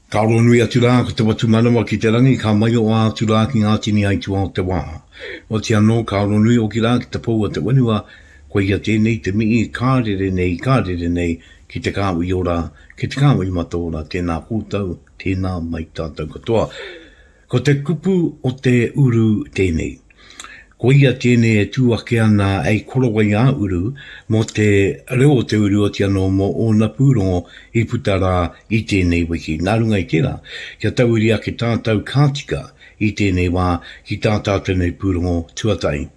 Ka roa nui atu rā ko te watu manawa ki te rangi, ka maioa atu rā ki ngā tini aituā o te wā. Otiia anō, ka roa nui hoki rā ki te pou a te whenua, koia tēnei te mihi ka rere nei, ka rere nei, ki te kāhui ora, ki te kāhui mataora, tēnā koutou, tēnā mai tātou katoa. Ko te kupu o te uru tēnei. Koia tēnei e tū ake ana hei korowai ā-uru mō te reo o te uru oti anō mō ōna pūrongo i puta rā i tēnei wiki. Nā runga i tērā, kia tauiri ake tātau ka tika i tēnei wā ki tā tātau nei pūrongo tuatahi.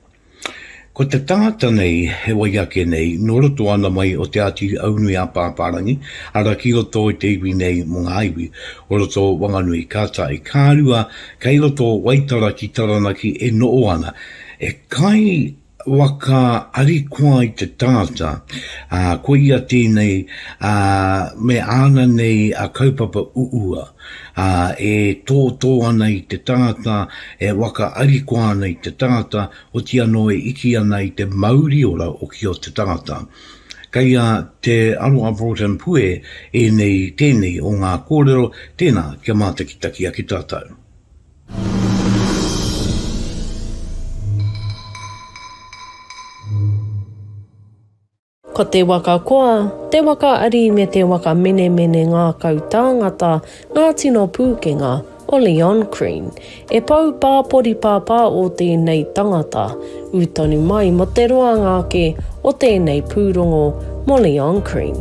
Ko te tangata nei he wai ake nei nō roto ana mai o Te Āti Aunui-ā-Pāpārangi, arā ki roto i te iwi nei mō ngā iwi o roto o Wanganui. Kātahi, ka rua kei roto o Waitara ki Taranaki e noho ana, e kai waka arikoa i te tangata, ā, ko ia tēnei, ā, me āna nei kaupapa uua. ā, e tōtō ana i te tangata, e whakaarikoa ana i te tangata, oti anō e iti ana i te mauri ora o ki o te tangata. Kei a Te Aroha Broughton Pue ēnei tēnei o ngā kōrero, tēnā, kia mātakitaki ake tātou. Ko te waka koa, te waka ari me te waka menemene ngākau tāngata ngā tino pūkenga o Leon Crean. E pou pāpori pāpā ō tēnei tangata, ū tonu mai mō te roanga ake o tēnei pūrongo mō Leon Crean.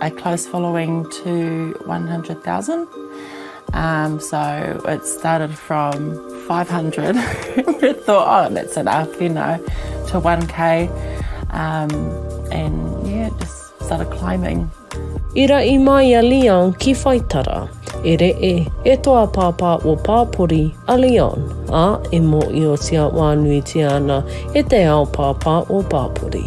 a close following to 100,000 so it started from 500 we thought oh that's enough you know to 1k and yeah it just started climbing. I raʻi mai a Leon ki Whaitara. E reʻe, e toa pāpā o Pāpori a Leon, ā, e mōʻiotia wānuitia ana e te ao pāpā o Pāpori.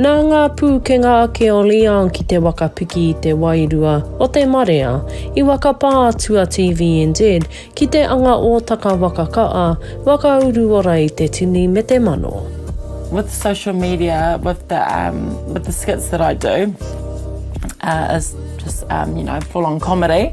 Nā ngā pūkenga ake o Leon ki te waka piki i te wairua o te marea i waka pā atu a TVNZ ki te anga ōtaka waka kaa, waka uruora i te tini me te mano. With social media, with the um, with the skits that I do, uh, is just um, you know, full on comedy.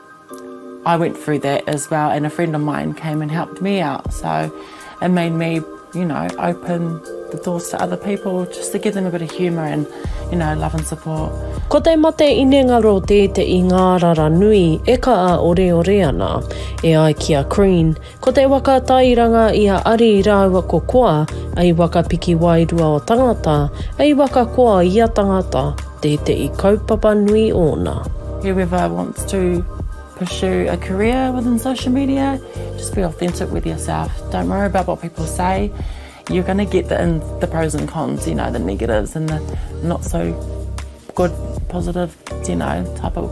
I went through that as well and a friend of mine came and helped me out so it made me you know open the doors to other people just to give them a bit of humour and you know love and support. Ko te mate inengaro tēteʻi ngārara nui e kaʻa oreore ana. E ai ki a Crean, Ko te waka tairanga i a Ari rāua ko Koa, ei waka piki wairua o tangata, ei waka koa i a tangata, tēteʻi kaupapa nui ōna. Whoever wants to pursue a career within social media, just be authentic with yourself, don't worry about what people say, you're gonna get the in, the pros and cons, you know, the negatives and the not so good, positive, you know, type of.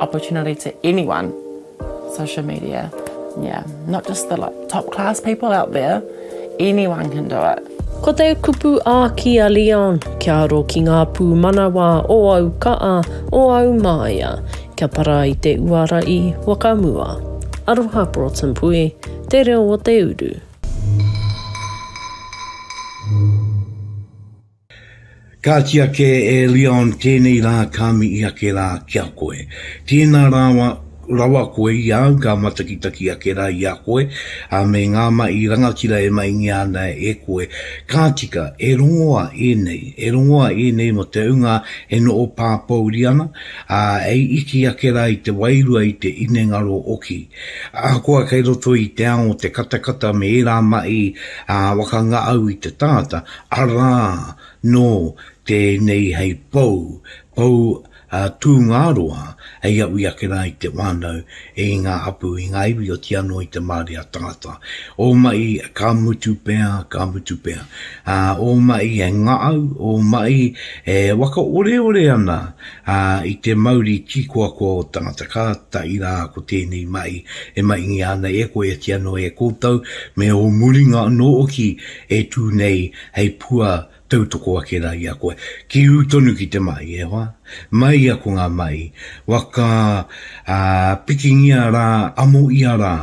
opportunity to anyone social media yeah not just the like top class people out there anyone can do it. Ko te kupu āki a Leon, kia aro ki ngā pūmanawa o au ka'a, o au māia, kia para i te uara i Wakamua. Aroha Broughton Pui, te reo o te uru. Kāti ake e Leon tēnei rā ka mihi ake rā ki a koe. Tēnā rawa rawa koe i a au ka matakitaki ake rā i a koe, ā, me ngā mahi rangatira e maingia ana e koe. Ka tika, e rongoa ēnei, e rongoa ēnei mō te hunga e noho pāpouri ana, ā, e iti ake rā i te wairua i te inengaro oki. Ahakoa kei roto i te ao te katakata me ērā mahi, ā, wakangaau i te tangata, Arā, nō tēnei hei pou, pou a Tūngāroa, hei aui ake rā i te whānau, i ngā hapū, i ngā iwi, otīa anō i te marea tangata. Ō maʻi, ka mutu pea, ka mutu pea. Ā, ō maʻi e ngaʻau, ō maʻi e wakaoreore ana i te mauri tīkoakoa o tangata, kātahi rā ko tēnei maʻi e maʻingia ana e koe, otīa anō e koutou, me ō muringa anō hoki E tū nei hei pua tautoko ake rā i a koe. Ki ū tonu ki te mahi, e hoa? Mai ia ko ngā mahi, waka, ā, pikingia rā, amoia rā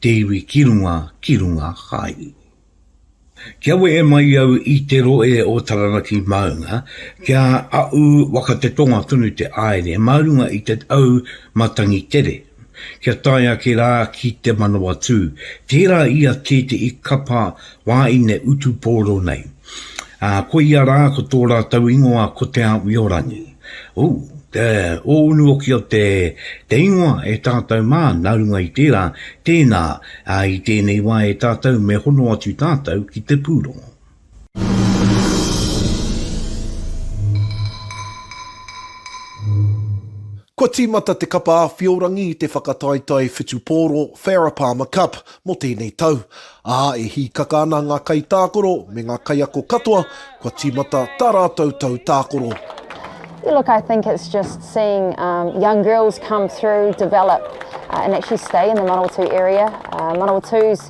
te iwi ki runga, ki runga hai. Kia wehe mai au i te rohe o Taranaki maunga, kia aʻu waka te tonga tonu te āere mā runga i te au matangi tere. kia tae ake rā ki te Manawatū, tērā i a tētehi kapa wāine utu pōro nei. Ā, koia rā ko tō rātou ingoa ko Te Āwiorangi. Ū, te ōunu hoki o te, te ingoa e tātou mā, nā runga i tērā, tēnā, ā, i tēnei wā e tātou me hono atu tātou ki te pūrongo. Kua tīmata te Kapa Āwhiorangi i te whakataetae whutupōro Farah Palmer Cup mō tēnei tau, ā, e hīkaka ana ngā kaitākaro me ngā kaiako katoa kua tīmata tā rātou tau tākoro. Yeah, look, I think it's just seeing um, young girls come through, develop, uh, and actually stay in the Manawatū area. Uh, Manawatū's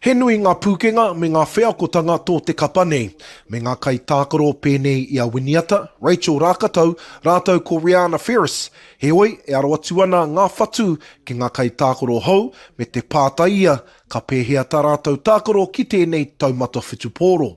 He nui ngā pūkenga me ngā wheakotanga tō te kapa nei, me ngā kaitākaro pēnei i a Winiata, Rachel Rākatau, rātou ko Reana Ferris, heoi, e aro atu ana ngā whatu ki ngā kaitākaro hou me te pātai ia ka pēhea tā rātou tākaro ki tēnei taumata whutupōro.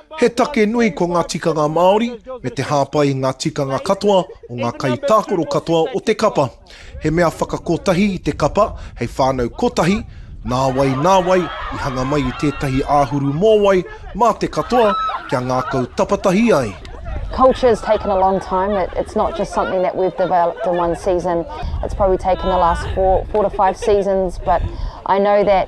He take nui ko ngā tikanga Māori, me te hāpai i ngā tikanga katoa o ngā kaitākaro katoa o te kapa. He mea whakakotahi i te kapa hei whānau kotahi, nāwai nā wai i hanga mai i tētahi āhuru mōwai mā te katoa kia ngākau tapatahi ai. Culture's taken a long time, it's not just something that we've developed in one season, it's probably taken the last four, four to five seasons, but I know that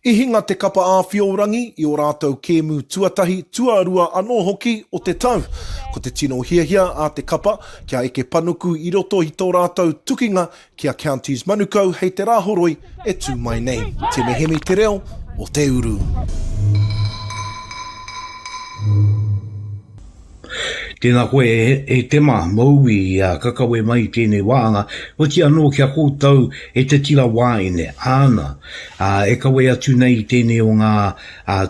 I hinga te Kapa Āwhiorangi i ō rātou kēmu tuatahi, tuarua anō hoki o te tau. Ko te tino hiahia a te kapa, kia eke panuku i roto i tō rātou tukinga ki a Counties Manukau hei te Rāhoroi e tū mai nei. Tēnei hemi te reo o te uru. Tēnā koe e Tema, Mouī, ā, ka kawe mai tēnei wāhanga, oti anō ki a koutou e te tira wāine, āna, ā, e kawe atu nei i tēnei o ngā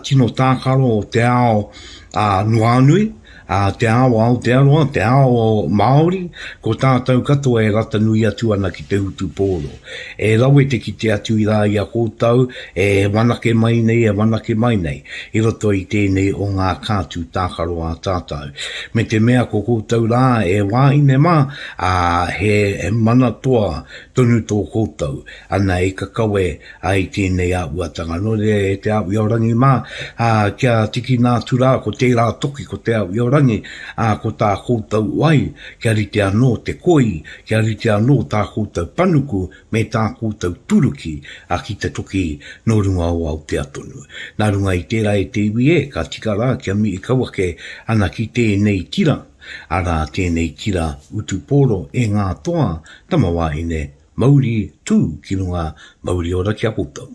tino tākaro o te ao a Nuānui, ā, te ao a Aotearoa, te ao Māori, ko tātou katoa e rata nui atu ana ki te utu pōro. E rawe te kite atu i rā i a koutou e whanake mai nei, e whanake mai nei, i roto i tēnei o ngā kātū tākaro a tātou. Me te mea ko koutou rā e wāhine mā, ā, he mana toa tonu tō koutou, ana i kakawe ai tēnei āhuatanga. Nō reira e te Awi o Rangi mā, ā, kia tikina atu rā ko tērā toki ko te Awi o Rangi, ā, ko tā koutou wai kia rite anō te koi Kia rite anō tā koutou panuku me tā koutou turuki a ki te toki nō runga o Aotea tonu. Nā runga i tērā e te iwi e, ka tika rā kia mihi kau ake ana ki tēnei tira, arā, tēnei tira utu pōro e ngā toa, tamawāhine, mauri, tū ki runga, mauri ora ki a koutou.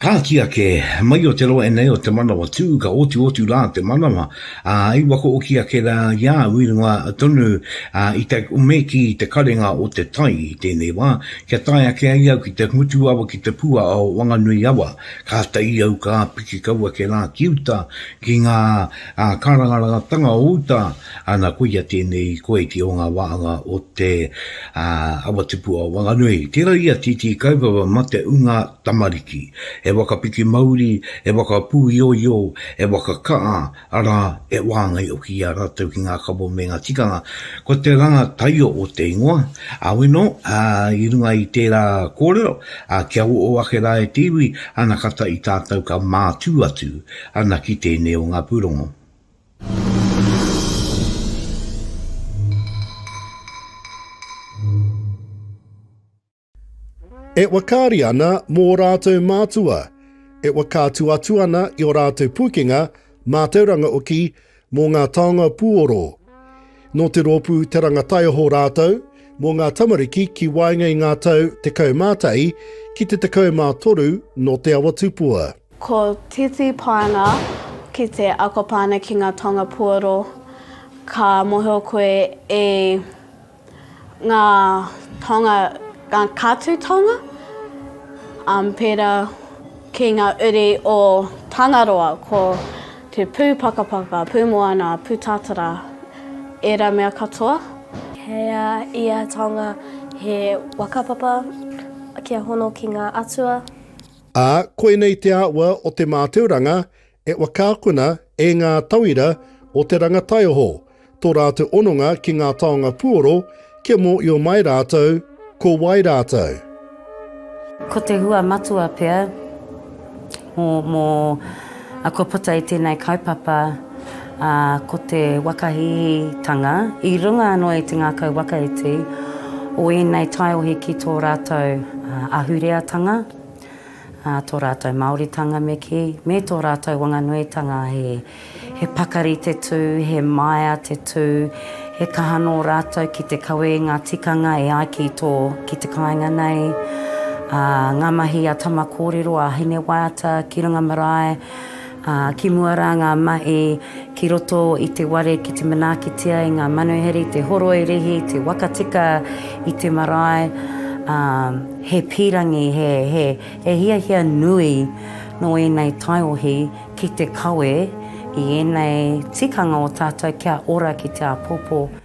Kāti ake, mai o te roa enei o te manawa tū, ka otuotu rā te manawa, ā, i wakaoki ake rā i a au i runga tonu i te, me kī, te karenga o te tai i tēnei wā, kia tae ake ai au ki te ngutu awa ki te pua o Wanganui awa, kāta i au ka piki kau ake rā ki uta, ki ngā kārangarangatanga o uta, Ana, koia tēnei i koe ki ō ngā wāhanga o te Awa Tupu o Wanganui. Tērā ia tītī kaupapa mate ūnga tamariki. He waka piki mauri, he waka pūioio, he waka ka'a, arā, he wāngai hoki i a rātou ki ngā kawa me ngā tikanga. Ko te ranga taio o te ingoa, Awino, i runga i tērā kōrero, kia oʻo ake rā e te iwi, ana kata i tātou ka mātū atu ana ki tēnei o ngā pūrongo. E whakaari ana mō ō rātou mātua, e whakaatu atu ana i ō rātou pūkenga mātauranga oki mō ngā taonga puoro. Nō te rōpū Te Ranga Taiaho rātou mō ngā tamariki ki waenga i ngā tau 11 ki te 13 nō Te Awa Tupua. Ko Titi Pānga ki te ako Pānga ki ngā taonga puoro ka mohio koe e ngā taonga ngā kātū taonga um pērā ki ngā uri o Tangaroa ko te pū pakapaka, pū moana, pū tātara ērā mea katoa. Kei a ia taonga he waka papa kia hono ki ngā atua. ā, koinei te āhua o te mātauranga e waka akona e ngā tauira o te ranga taioho tō rātou hononga ki ngā taonga puoro kia mōio mai rātou ko wai rātou. Ko te hua matua pea mō, mō, ā, kua puta i tēnei kaupapa, ā, ko te whakahihitanga i runga anō i te ngākau waka iti o ēnei taiohi ki tō rātou ahureatanga. ā tō rātou Māoritanga me kī, me tō rātou wanganuitanga he pakari te tū, he maea te tū, he kaha nō rātou ki te kawe i ngā tikanga e ai ki tō, ki te kāinga nei, ā, ngā mahi a Tama Kōrero, a Hinewaiata ki runga marae, Ā, ki mua rā ngā mahi ki roto i te ware ki te manaakitia e ngā manuhiri, te horoi rihi, te waka tika i te marae, ā, he pīrangi, he, he, he hiahia nui nō ēnei taiohi ki te kawe i ēnei tikanga o tātou kia ora ki te āpōpō.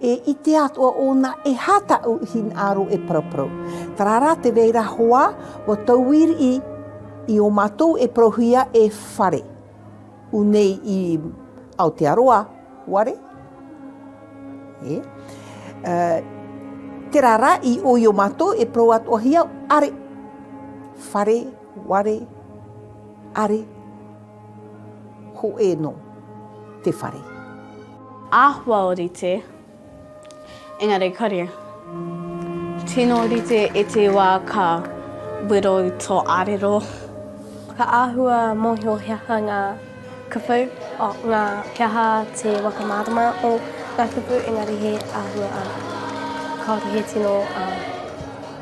E i te atua ona e hata u hin aro e paraparau. Tarara te reira hoa wa tauir i i o matou e parahuia e whare. U nei i Aotearoa ware e. Te rara i o i o matou e parau atoahia are whare ware are. Hoʻe no te whare. Ahua orite, engari kore. Tino orite e te wa ka wero to arero. Ka ahua mohio he aha nga kupu, oh, nga, he aha te whakamārama o nga kupu, engari he ahua ano. Kaore he tino, um,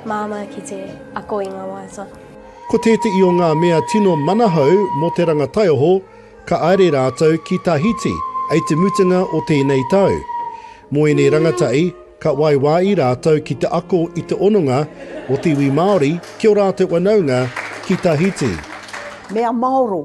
māmā ki te ako i nga waiata. Ko tētehi o ngā mea tino manahau mō te rangataioho, ka aere rātou ki Tahiti ei te mutunga o tēnei tau. Mō ēnei rangatai, ka waiwāi rātou ki te ako i te ononga o te iwi Māori ki o rātou wanaunga ki Tahiti. Mea maoro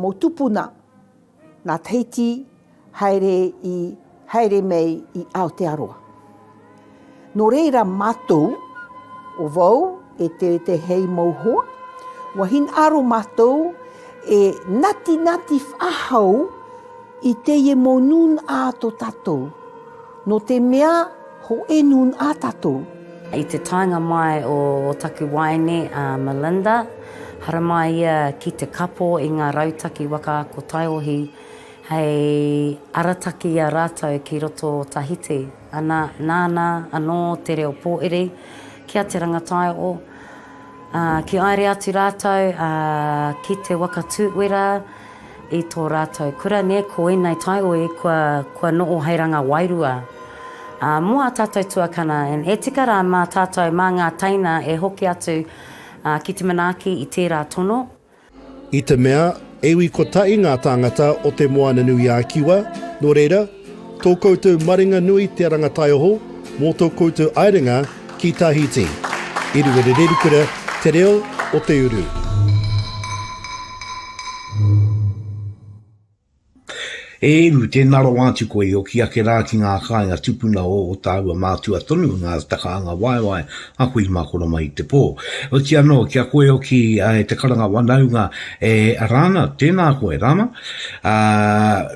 mō tupuna nā Tahiti haere i haere mei i Aotearoa. Nō reira mātou o wau e te te hei mou hoa, wa hin aro mātou e nati nati whahau i te ie mou nun a to tatou. No te mea ho enun a tatou. I te taenga mai o taku waene a Melinda, haramai ia ki te kapo i nga rautaki waka ako taiohi hei arataki i a ratou ki roto o Tahiti. Ana, nana ano te reo poeri ki a Te Rangataio. Ā, ki haere atu rātou, ā, ki te waka tū uera i tō rātou kura, nē, ko ēnei taioi kua, kua noho hei ranga wairua, ā, mō ā tātou tuakana, and e tika rā mā tātou, mā ngā teina e hoki atu, ā, ki te manaaki i tērā tono. I te mea, e ui kotahi ngā tāngata o Te Moana-nui-a-Kiwa, nō reira, tō koutou maringa nui te rangataioho mō tō koutou aerenga ki Tahiti. I runga rerekura te reo o te uru. E Ihu, tēnā rawa atu koe i oki ake rā ki ngā kāinga tupuna o ō tāua mātua tonu, ngā takaanga waewae a koe i mākona mai i te pō. Oti anō, ki a koe oki e te karanga wanaunga e Arana, tēnā koe, Rama, ā,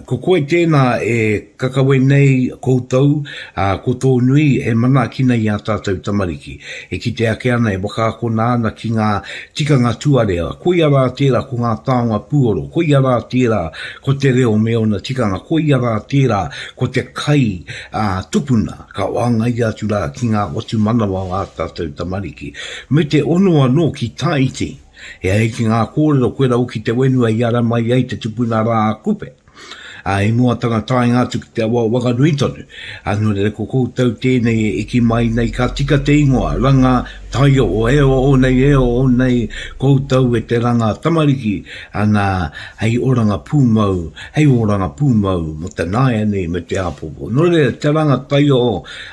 ko koe tēnā e Ka kawe nei koutou, ā, ko tō nui e manaakina i ā tātou tamariki, e kite ake ana, e whakaakona ana ki ngā tikanga tuarā, koia rā tērā ko ngā taonga puoro, koia rā tērā ko te reo me ōna tikanga, koia rā tērā ko te kai ā, tupuna, ka whāngaia atu rā ki ngā whatumanawa o ā tātou tamariki. Me te ono anō ki Taiti, e ai ki ngā kōrero koe rau ki te whenua i ara mai ai te tupuna rā a Kupe. Ā, i mua tana taenga atu ki te awa wakanui tonu, ā, nō reira ko koutou tēnei e eki mai nei ka tika te ingoa, ranga, taio, e oho nei, e oho nei koutou e te ranga tamariki, anā, hei oranga pūmau, hei oranga pūmau mō te nāianei me te āpōpō. Nō reira, te ranga taio,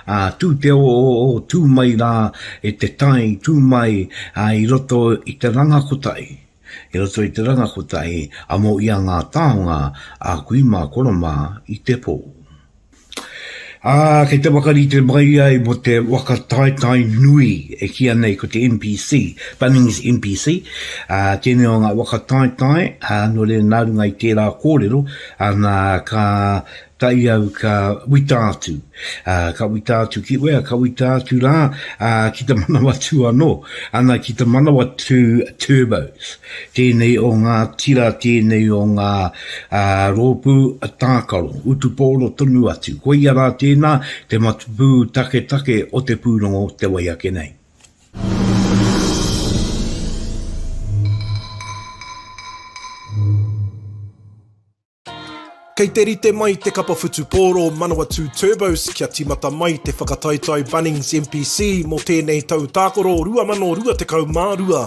ā, tū te oooh, tū mai rā e te tai, tū mai, ā, i roto i te ranga kotahi. I roto i te ranga kotahi, amo ia ngā taonga a kui mā koro mā i te pō. Ā, kei te whakarite mai ai mō te waka taetae nui e kīa nei ko te MPC, Bunnings MPC, ā, tēnei o ngā waka taetae, ā, nō reira nā runga i tērā kōrero, ā, nā, ka kai au ka wita atu, ā, ka wita atu ki wea, ka wita atu rā, ā, ki te Manawatū anō, ana ki te Manawatū Turbos. Tēnei o ngā tira, tēnei o ngā ā, rōpū tākaro, utupōro tonu atu. Koia rā tēnā, te matapū taketake o te pūrongo te wai ake nei. Kei te rite mai te kapa whutupōro Manawatū Turbos kia tīmata mai te whakataetae Bunnings MPC mō tēnei tau tākoro 2022.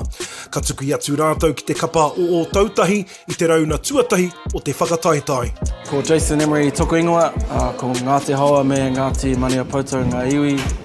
Ka tukui atu rātou ki te kapa o Ōtautahi i te rauna tuatahi o te whakataetae. Ko Jason Emery toku ingoa, ko Ngāti Haoa me Ngāti Maniapoto ngā iwi.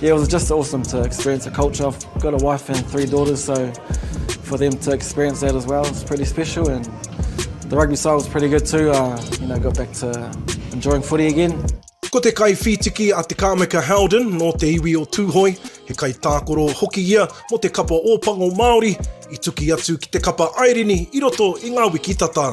Yeah, it was just awesome to experience the culture. I've got a wife and three daughters, so for them to experience that as well, it's pretty special. And the rugby side was pretty good too. Uh, you know, got back to enjoying footy again. Ko te kai whītiki a Te Kāmeka Howden nō te iwi o Tūhoe, he kai tākoro hoki ia mō te kapa Ōpango Māori, i tuki atu ki te kapa Airini i roto i ngā wiki tata.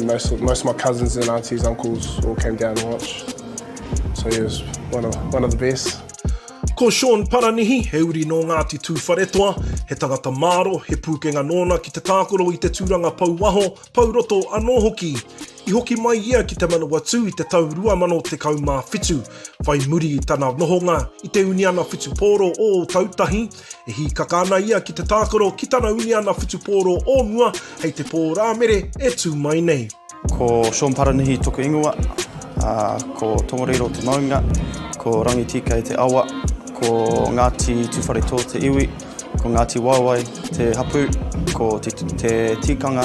Most of, most of my cousins and aunties, uncles all came down to watch. So he was one of, one of the best. Ko Sean Paranihi, he uri nō Ngāti Tūwharetoa, he tangata māro, he pūkenga nōna ki te tākaro i te tūranga pou waho, pou roto anō hoki. I hoki mai ia ki Te Manawatū i te tau 2017, whai muri i tana nohonga i te uniana whutupōro o Ōtautahi, E hīkaka ana ia ki te tākaro ki tana uniana whutupōro o mua hei te pō Rāmere e tū mai nei. Ko Sean Paranihi toku ingoa, ko Tongareiro te maunga, ko Rangitīkei te awa, ko Ngāti Tūwharetō te iwi, ko Ngāti Waewae te hapū, ko te, te tīkanga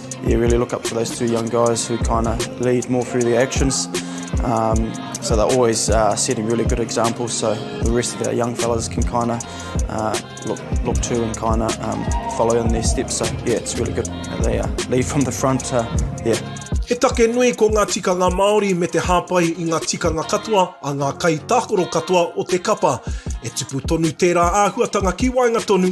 Yeah, really look up to those two young guys who kind of lead more through their actions. Um, so they're always uh, setting really good examples. So the rest of our young fellas can kind of uh, look look to and kind of um, follow in their steps. So yeah, it's really good. They uh, lead from the front. Uh, yeah. He take nui ko ngā tikanga Māori me te hāpai i ngā tikanga katoa a ngā kaitākaro katoa o te kapa. E tupu tonu tērā āhuatanga ki waenga tonu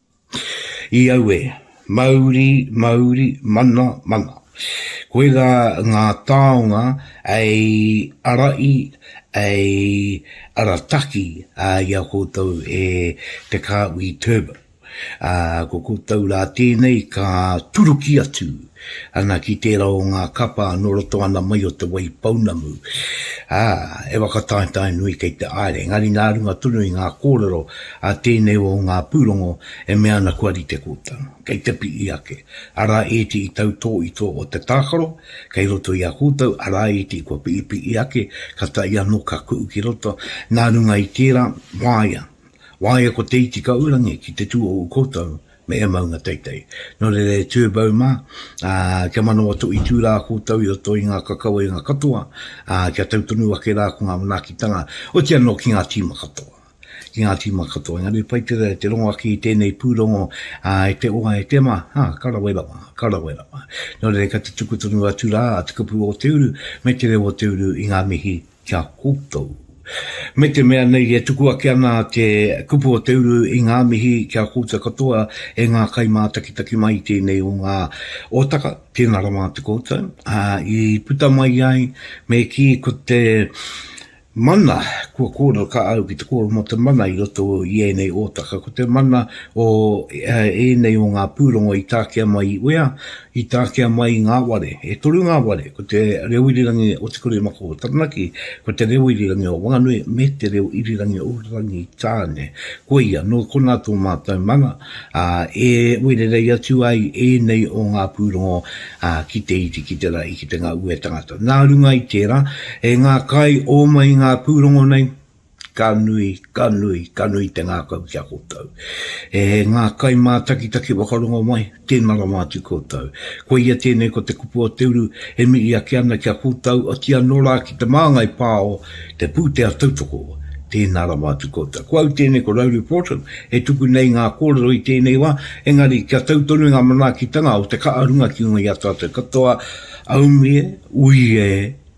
I aue, mauri, mauri, mana, mana. Koe ra nga taonga ei arai, ei arataki i a koutou e te Kahui Turbo. Ko koutou ra tenei ka turuki atu Ana ki tērā o ngā kapa nō roto ana mai o Te Waipounamu, ā, e whakataetae nui kei te aere, engari nā runga tonu i ngā kōrero a tēnei o ngā pūrongo e mea ana kua rite kōtano, kei te pihi ake, arā ētehi tautō i tō o te tākaro kei roto i a koutou, arā ētehi kua pihipihi ake, katahi anō ka kuhu ki roto, nā runga i tērā, waea, waea ko Te Itikaurangi ki te tū o ū koutou me he maunga teitei. Nō reira e Turbo mā, ā, kia manawa toitū rā koutou i roto i ngā kakawenga katoa, ā, kia tau tonu ake rā ko ngā manaakitanga, oti anō ki ngā tīma katoa, ki ngā tīma katoa. Engari pai tērā te rongo ake i tēnei pūrongo, ā, e te oa, e te ma, ā, ka rawe rawa, ka rawe rawa. Nō reira ka tutuku tonu atu rā te kupu o te uru me te reo o te uru i ngā mihi ki a koutou. Me te mea nei e tuku ake ana te kupu o te uru i ngā mihi ki a koutou katoa e ngā kaimātakitaki mai i tēnei o ngā otaka, tēnā rawa atu koutou, ā, i puta mai ai me kī ko te mana kua kōrero ka au ki te kōrero mō te mana i roto i ēnei otaka, ko te mana o ēnei o ngā pūrongo i takea mai i uea, I takea mai ngā ware, e toru ngā ware, ko te reo irirangi o Te Kuremako o Taranaki, ko te reo irirangi o Wanganui, me te reo irirangi o Rangitāne. Koia, nō konā tō mātou mana, ā, e wererei atu ai ēnei o ngā pūrongo ki te iti, ki te rahi, ki te ngaue tangata. Nā runga i tērā, e ngā kai ō mai ngā pūrongo nei, Ka nui, ka nui, ka nui te ngākau ki a koutou. E ngā kaimātakitaki whakarongo mai, tēnā rawa atu koutou. Koia tēnei ko te kupu o te uru e mihi ake ana ki a koutou, otirā anō rā ki te māngai pā o te pūtea tautoko, tēnā rawa atu koutou. Ko au tēnei ko Rowley Fortune e tuku nei ngā kōrero i tēnei wā, engari kia tau tonu ngā manaakitanga o te ka'a runga ki ngoi a tātou katoa, aumi e, ui e,